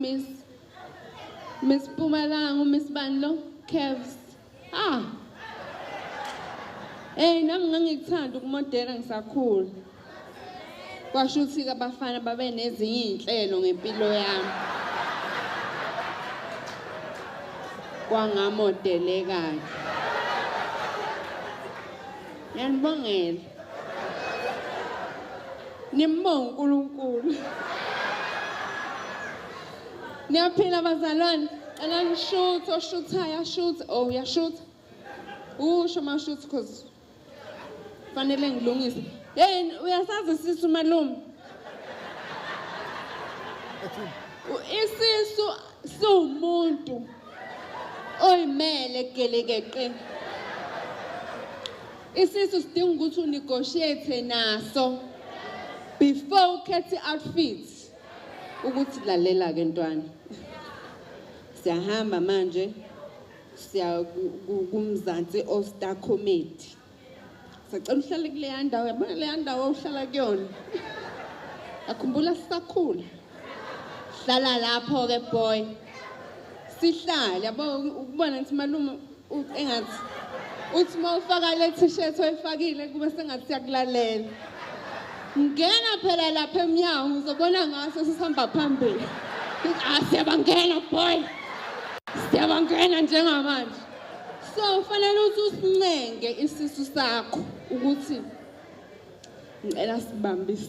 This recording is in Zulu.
Miss Miss Pumalanga Miss Banlo Kevs ah Hey nami ngangikuthanda ukumodela ngisakhula kwasho ukuthi abafana babe nezinye izinhlelo ngempilo yami kwangamodelekayo yanibongela Nimbonge uNkulunkulu. Niyaphila bazalwane. Cela nishuthe oshuthayo ashuthe. Oh uyashutha. Usho mashuthe cause fanele ngilungise. Hey uyasazi sisi umalume. Isisu siwumuntu oyimele gelekeqe isisu sidinga ukuthi unegotiate naso before ukhethe outfit ukuthi lalela ke ntwana siyahamba manje siya kumzansi osta comedy sacela uhlale kuleya ndawo yabona leya ndawo uhlala kuyona akhumbula sisakhula hlala lapho-ke boy sihlale yabo ukubona ukuthi malume engathi uthi uma ufaka le t-shirt oyifakile kube sengathi siyakulalela ngena phela lapha emnyango ngizobona ngaso sisihamba phambili ah siyabangena boy siyabangena njengamanje so ufanele ukuthi usincenge isisu sakho ukuthi ngicela sibambise